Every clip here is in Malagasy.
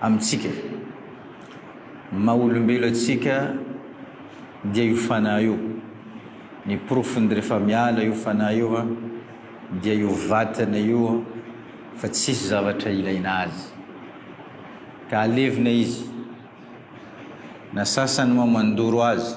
amintsika, ny maha olombelo antsika dia io fanahy io, ny porofony rehefa miala io fanahy io an dia io vatana io fa tsisy zavatra ilaina azy ka alevina izy, na sasany moa mandoro azy,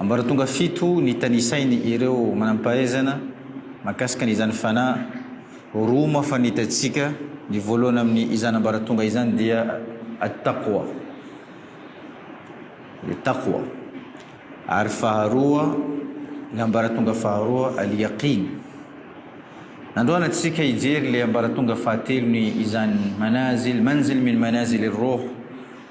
Ambaratonga fito ny tanisainy ireo manampahaizana makasika ny izany fanahy roa moa fa ny tatsika ny voalohany amin'ny izany ambaratonga izany dia at-taqwa le taqwa ary faharoa le ambaratonga faharoa al-yaqin nandroana tsika hijery le ambaratonga fahatelo ny izany manazil manzil min manazil roh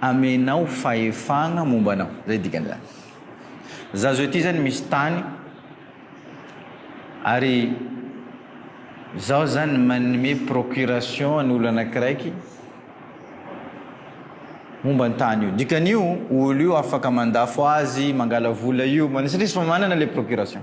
Amenao fahefagna momba anao. Zay dikan'izany. Za zao ity zany misy tany ary zaho zany manome procuration an'ny olo anakiraiky momba ny tany io. Dikan'io olo io afaka mandafo azy, mangala vola io, satria efa manana le procuration.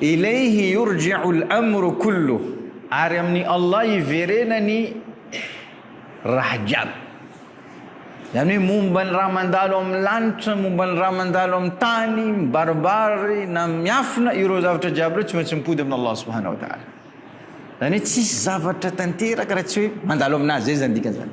Ilayhi yurji'u al-amru kulluh, ary amin'i Allah iverena ny raha jiaby. Izany hoe momba ny raha mandalo amin'ny lanitra, momba ny raha mandalo amin'ny tany, mibaribary na miafina, ireo zavatra jiaby ireo tsy maintsy mipody amin'i Allah subhanahu wa ta'ala. Izany hoe tsisy zavatra tanteraka raha tsy hoe mandalo aminazy, izay izany dikan'izany.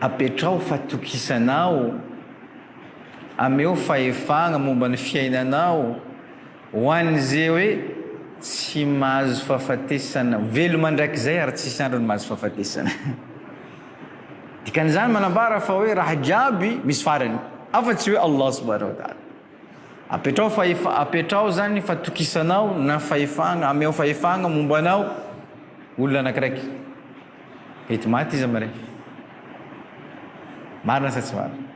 Apetraho fatokisanao, ameo fahefagna momba ny fiainanao ho an'izay hoe tsy mahazo fahafatesana, velo mandrakizay ary tsisy androny mahazo fahafatesana. Dikan'izany manambara fa hoe raha jiaby misy farany, afa tsy hoe Allah subhanahu wa ta'ala. Apetraho fahefa, apetraho zany fatokisanao na fahefagna, ameo fahefagna momba anao olona anakiraiky. Mety maty izy mirefy. Marina sa tsy marina?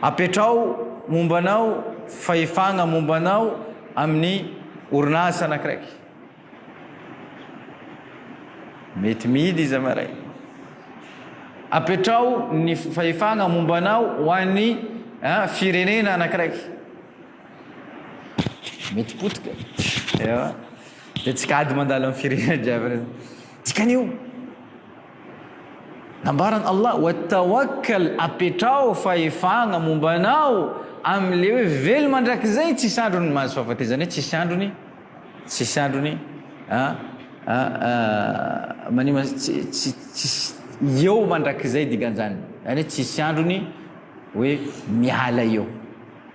Apetraho momba anao fahefagna momba anao amin'ny orinasa anakiraiky. Mety mihidy izy maray. Apetraho ny fahefagna momba anao ho an'ny eh, firenena anakiraiky. Mety potika. Ewa. Dia tsy kady mandalo amin'ny firenena jiaby. Dikan'io, nambaran' Allah, Wa tawakkal, apetraho fahefagna momba anao amin'ilay hoe velo mandrakizay tsisy androny ny mahazo fahafatezana, hoe tsisy androny, tsisy androny, a, a, a, manima, tsy, tsy, tsisy, eo mandrakizay dikan'izany, izany hoe tsisy androny hoe miala eo.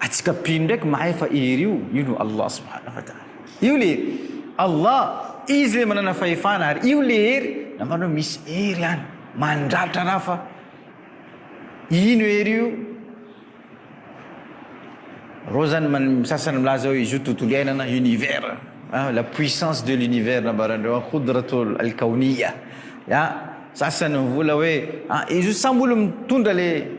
Atsika mpino ndraiky mahay fa hery io, io no Allah subhanahu wa ta'ala. Io le Allah, Izy le manana fahefana ary io le hery, nambany hoe misy hery any mandratra raha fa ino hery io? Reo zany man- ny sasany milaza hoe izy io tontolo iainana, univers, an, la puissance de l'univers nambarandreo an, Khudratul Al-Kawniyya, an, sasany mivola hoe an izy io sambo olo mitondra le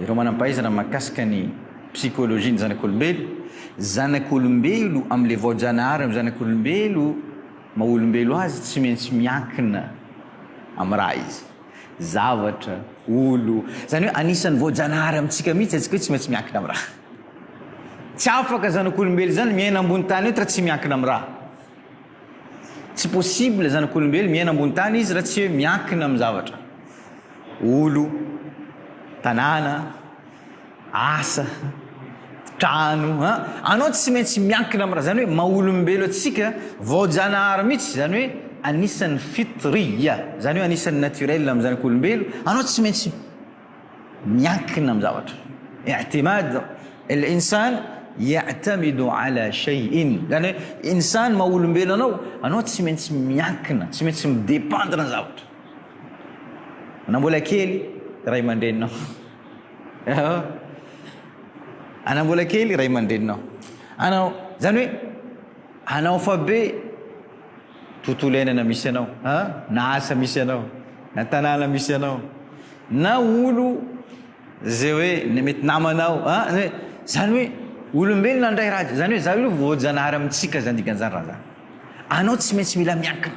Ireo manam-pahaizana mahakasika ny psikolojian'ny zanak'olombelo, Zanak'olombelo amin'ilay vaojanahary amin'ny zanak'olombelo maha olombelo azy tsy maintsy miankina amin'ny raha izy, zavatra, olo. Izany hoe anisan'ny vaojanahary amintsika mihitsy atsika hoe tsy maintsy miankina amin'ny raha. Tsy afaka zanak'olombelo izany miaina ambony tany eto raha tsy miankina amin'ny raha. Tsy possible zanak'olombelo miaina ambony tany izy raha tsy hoe miankina amin'ny zavatra. Olo, tanàna, asa, trano an. Anao tsy maintsy miankina amin'ny raha zany hoe maha-olombelo antsika vaojanahary mihitsy zany hoe anisan'ny fitriya zany hoe anisan'ny naturel amin'ny zanak'olombelo anao tsy maintsy miankina amin'ny zavatra. I'timad al-insan ya'tamidu 'ala shay'in. Zany hoe insan maha olombelo anao, anao tsy maintsy miankina, tsy maintsy mi-dépendre ny zavatra. Na mbola kely ray aman-dreninao. Ehe. Ana mbola kely ray aman-dreninao. Anao, zany hoe anao fa be tontolo iainana misy anao a, na asa misy anao, na tanàna misy anao, na olo zay hoe na mety namanao a, na hoe zany hoe olombelona handray raha jiaby, zany hoe zany hoe voajanahary amintsika zany dikan'izany raha zany, anao tsy maintsy mila miankina.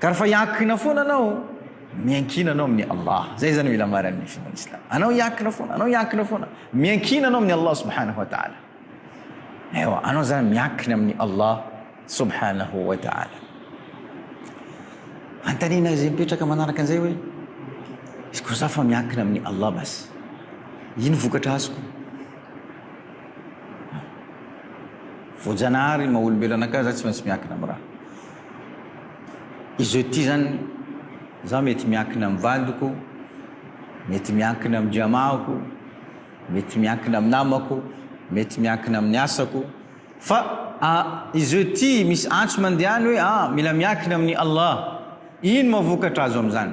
Ka rehefa hiankina foana anao, miankina anao amin'ny Allah. Zay zany mila maran'ny finoan'ny Islam. Anao hiankina foana, anao hiankina foana. Miankina anao amin'ny Allah subhanahu wa ta'ala. Ewa, anao zany miankina amin'ny Allah subhanahu wa ta'ala. Antanina izay mipetraka manaraka an'izay hoe izy koa za fa miankina amin'ny Allah bas. Ino vokatra azoko? Voajanahary maha olombelona ka za tsy maintsy miankina amin'ny raha. Izao ity izany, izaho mety miankina amin'ny vadiko, mety miankina amin-dRiamahako, mety miankina amin'ny namako, mety miankina amin'ny asako, fa izao ity misy antso mandeha any hoe, ah, mila miankina amin'i Allah. Ino mahavokatra azo amin'izany?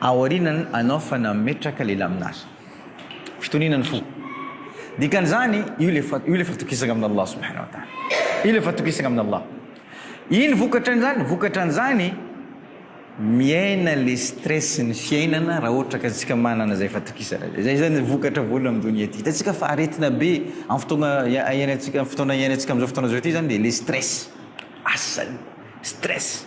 Aoriana anao fa nametraka le laminary. Fitoniana ny fo. Dikan'izany io le fa io le fatokisagna amin' Allah subhana wa taala. Io le fatokisagna amin' Allah. Ino vokatran'izany? Vokatran'izany miaina le stress ny fiainana raha ohatra ka antsika manana zay fatokisana zay. Zay zany vokatra voalohany am donia ty. Hitantsika fa aretina be am fotoagna ia iainantsika am fotoana iainantsika am'zao fotoana zao ty zany de le stress. Asany! Stress!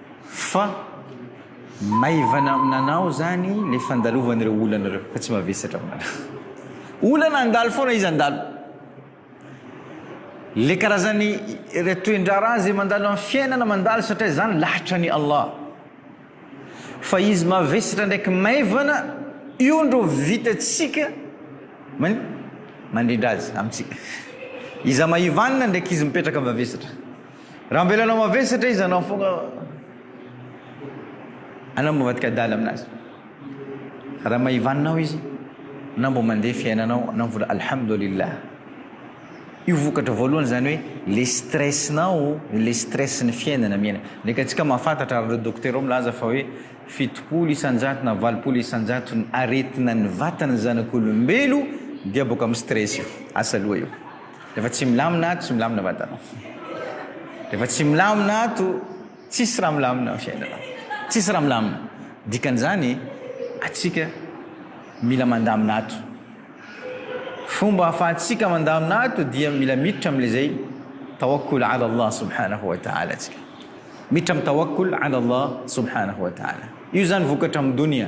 Fa maivana aminanao zany le fandalovan'ireo olana ireo fa tsy mavesatra aminanao. Olana handalo foana izy handalo. Le karazan'ny re toendraharaha izay mandalo amin'ny fiainana mandalo satria izany lahatra an'i Allah. Fa izy mavesatra ndraiky maivana io ndro vitantsika man mandrindra azy amintsika. Iza maivanina ndraiky izy mipetraka mavesatra. Raha avelana mavesatra izy anao foagna anao mba vadika adala aminazy. Raha maivaninao izy anao mba mandeha fiainanao anao vola alhamdulillah. Io vokatra voalohany zany hoe le stress-nao, le stress-n'ny fiainana miaina. Ndreka antsika mahafantatra ary ireo dokotera ao milaza fa hoe fitopolo isan-jato na valopolo isan-jato ny aretina ny vatan'ny zanak'olombelo dia boaka amin'ny stress io, asa loha io. Rehefa tsy milamina ato, tsy milamina vatanao. Rehefa tsy milamina ato, tsisy raha milamina ny fiainana. Tsisy raha milamina. Dikan'izany, atsika mila mandamina ato. Fomba ahafahantsika mandamina ato dia mila miditra amin'ilay tawakkul ala Allah subhanahu wa ta'ala atsika. Miditra amin'ny tawakkul ala Allah subhanahu wa ta'ala. Io zany vokatra amin'ny dunia.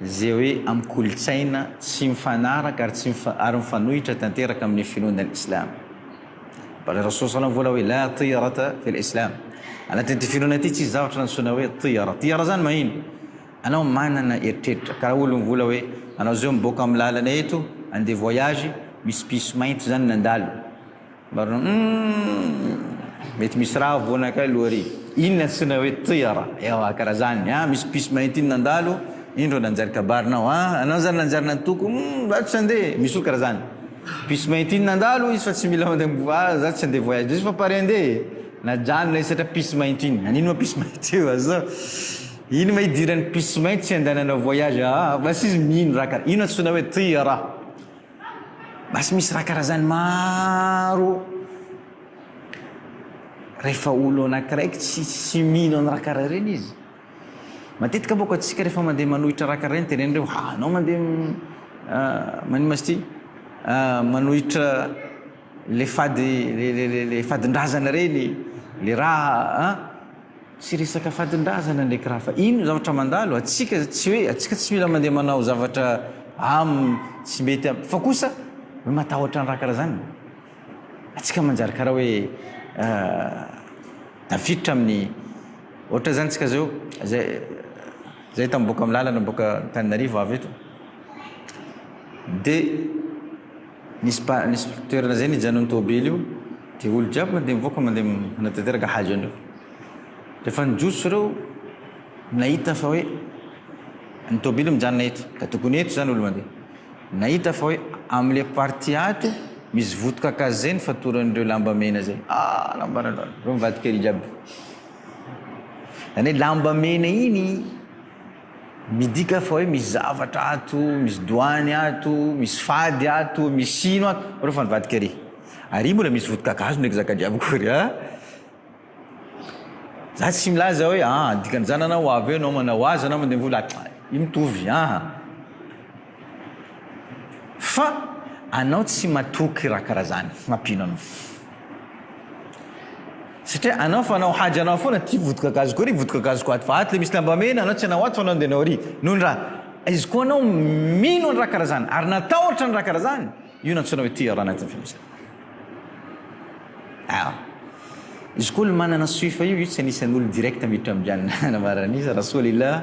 Izay hoe amin'ny kolontsaina tsy mifanaraka ary tsy ary mifanohitra tanteraka amin'ny finoana ny Islam. Qala Rasul salam vola hoe la tiyarata fil Islam. Anatin'ity finoana ity tsisy zavatra nantsoina hoe tiyara. Tiyara zany mahino? Anao manana eritreritra karaha olo mivola hoe anao zao miboaka amin'ny lalana eto andeha voyage misy piso mainty zany nandalo. Marina humm mety misy raha havoana kay aloha ry. Inona antsoina hoe tira? Ewa karaha zany a misy piso maintiny nandalo indro nanjary kabary nao a anao zany nanjary nantoko humm za tsy ande misy olo karaha zany piso maintiny nandalo hoy izy fa tsy mila mandeha a za tsy ande voyage izy fa pare ande e najanona izy satria piso maintiny anino ma piso mainty oa za ino ma idiran'ny piso mainty tsy andeha nanao voyage aa basy izy mino raha karaha ino antsoina hoe tira? Basy misy raha karazany maro rehefa olo anakiray tsy tsy mino an'ny raha karaha ireny izy matetika boko atsika rehefa mandeha manohitra raha karaha ireny teneny reo hanao mandeha ah, manimba sty ah, manohitra Le fady le fadindrazana reny le raha a! Tsy resaka fadindrazana ndraiky raha fa ino zavatra mandalo atsika tsy hoe atsika tsy mila mandeha manao zavatra am tsy mety am fa kosa hoe matahotra ny raha karaha zany atsika manjary karaha hoe a tafiditra amin'ny ohatra zany tsika zao zay zay tam boaka am lalana boaka antananarivo avy eto de Nisy pa nisy toerana zay nijanon'ny tôbily io de olo jiaby mandeha mivoaka mandeha manatanteraka haja an'io refa nijotso reo nahita fa hoe ny tôbily mijanona eto ka tokony eto zany olo mandeha nahita fa hoe amle partie ato misy voto kakazo zay ny fatoran'ireo lamba mena zay ah lamba rano reo mivadikely jiaby zany hoe lamba mena iny Midika fa hoe misy zavatra ato, misy doany ato, misy fady ato, misy sino ato. Reo fa nivadika ery. Ary mbola misy voto-kakazo ndraiky zaka-jiaby akory a! Za tsy milaza hoe an! dikan'izany anao ho avy eo anao manao azy anao mandeha mivola, io mitovy an! Fa anao tsy matoky raha karaha zany mampino anao satria anao fanao hajy anao foana ty vodikagazo koa ry vodikagazo koa ato fa ato le misy lamba mena anao tsy anao ato fanao de anao ry nony raha izy koa anao mino any raha karaha zany ary natahotra ny raha karaha zany io nantsoina hoe tira anatin'ny filazana ah izy koa le manana soifa io io tsy anisan'olo direct miditra ambianina nambaran'iza rasoa lila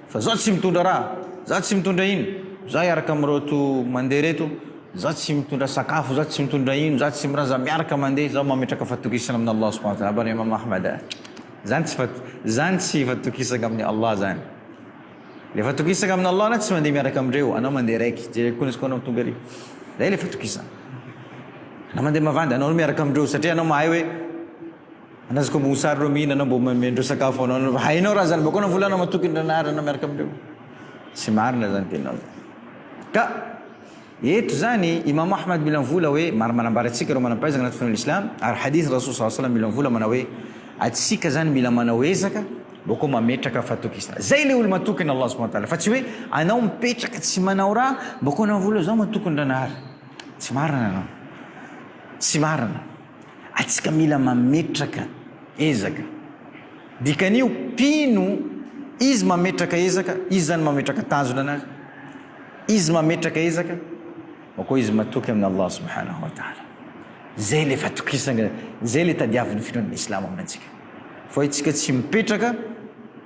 Fa za tsy mitondra raha, za tsy mitondra ino, za hiaraka amin'ireto mandeha ireto, za tsy mitondra sakafo, za tsy mitondra ino, za tsy miraha, za miaraka mandeha, zaho mametraka fatokisana amin' Allah subhanahu wa ta'ala, Abany Imam Ahmad a! Zany tsy fat, zany tsy fatokisagna amin'ny Allah zany. Le fatokisagna amin' Allah anao tsy mandeha miaraka amindreo, anao mandeha raiky, jereo koa izy koa anao tonga ery, zay le fatokisagna. Anao mandeha mavandy, anao aloha miaraka amindreo satria anao mahay hoe. Andraso ko mosary reo mihina anao mbo meme ndreo sakafo anao anao hainao raha zany mbo akona vola anao matoky ndray anarana miaraka amindreo tsy marina zany tenao ka eto zany imam ahmad mila mivola hoe maro manambara atsika reo manampaizana anaty finoana islam ary hadith rasul sa salam mila mivola manao hoe atsika zany mila manao ezaka mbo ko mametraka fatokisana zay le olo matokina allah subhanahu wa ta'ala fa tsy hoe anao mipetraka tsy manao raha mbo akona vola zao matoky ndranahary tsy marina anao tsy marina Atsika mila mametraka ezaka. Dikan'io, mpino, izy mametraka ezaka, izy zany mametraka tanjona anazy, izy mametraka ezaka, fa koa izy matoky amin' Allah subhanahu wa ta'ala. Zay le fatokisana, zay le tadiavin'ny finoan'ny Islamo amintsika. Fa itsika tsy mipetraka.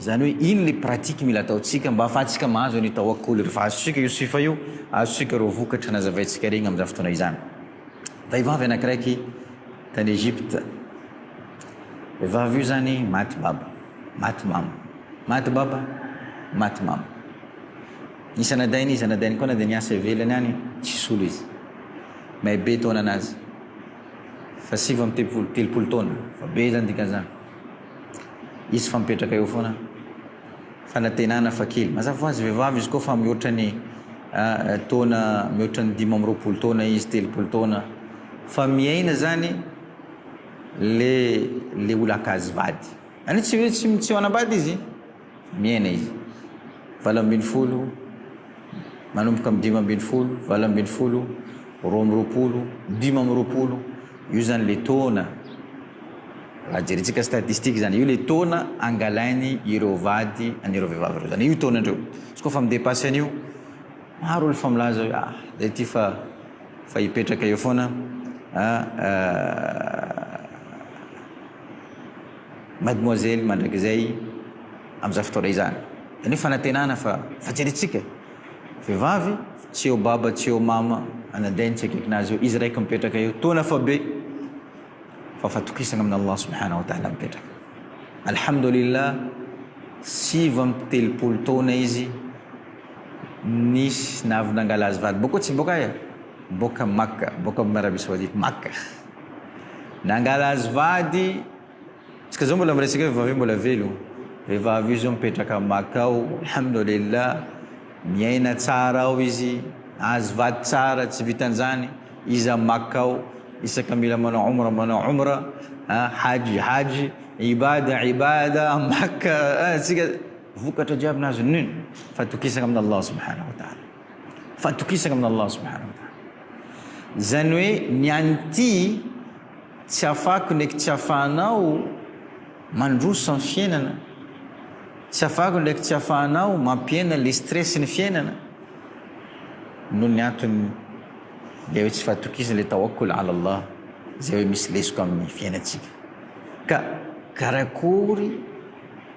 Zany hoe ino le pratique mila ataontsika mba afahantsika mahazo an'io tawakkul io? Refa azontsika io sifa io, azontsika reo vokatra nazavaintsika regny amzany fotoana izany. Vehivavy anakiraiky tany Egypte, vehivavy io zany maty baba, maty mama, maty baba, maty mama. Nisy anadainy izy, anadainy koa na de niasa ivelany any, tsy solo izy. May be taonanazy, fa sivy amby telopolo, telopolo taona, fa be zany dikanzany. Izy fa mipetraka eo foana. Fanantenana fa kely. Mazava ho azy vehivavy izy koa fa mihoatra ny taona, mihoatra ny dimy amby roapolo taona izy, telopolo taona. Fa miaina zany le le olon-kajy vady. Any tsy tsy tsy manambady izy. Miaina izy. Valo ambin'ny folo, manomboka amin'ny dimy ambin'ny folo, valo ambin'ny folo, roa amby roapolo, dimy amby roapolo, io izany ilay taona, raha jerintsika statistique izany, io ilay taona angalainy ireo vady an'ireo vehivavy ireo, izany io taona indreo. Izy koa fa mi-depasser an'io, maro olona efa milaza hoe ah, izay ity fa fa hipetraka eo foana, ah, ah, Mademoiselle mandrakizay amin'izany fotoana izany. Izany hoe fanantenana fa fa jerentsika e! Vehivavy tsy eo baba tsy eo mama anadahiny tsy akaikin azy eo izy raiky mipetraka eo toa nafabe fa fatokisana amin Allah subhana wa taala mipetraka. Alhamdoulilah sivy amby telopolo taona izy nisy navy nangala azy vady boka tsy boka aia? boka Makka boka amin Arabie Saoudite Makka. Nangala azy vady, tsika zao mbola miresaka hoe vehivavy io mbola velo, vehivavy io zao mipetraka Makka ao, alhamdoulilah, miaina tsara ao izy, azy vady tsara, tsy vitan'izany, izy à Makka ao, isaka mila manao Omra manao Omra, a Hajy Hajy, Ibada Ibada, Makka, tsika vokatra jiaby nazo nini, fatokisana amin'Allah subhanahu wa ta'ala. Fatokisana amin' Allah subhanahu wa ta'ala. Izany hoe ny an' ity tsy afako ndraiky tsy afahanao mandroso amin'ny fiainana, tsy afako ndraiky tsy afahanao mampihena le stress ny fiainana noho ny antony le hoe tsy fatokisana le tawakkul ala Allah izay hoe misy lesoka amin'ny fiainantsika. Ka karakory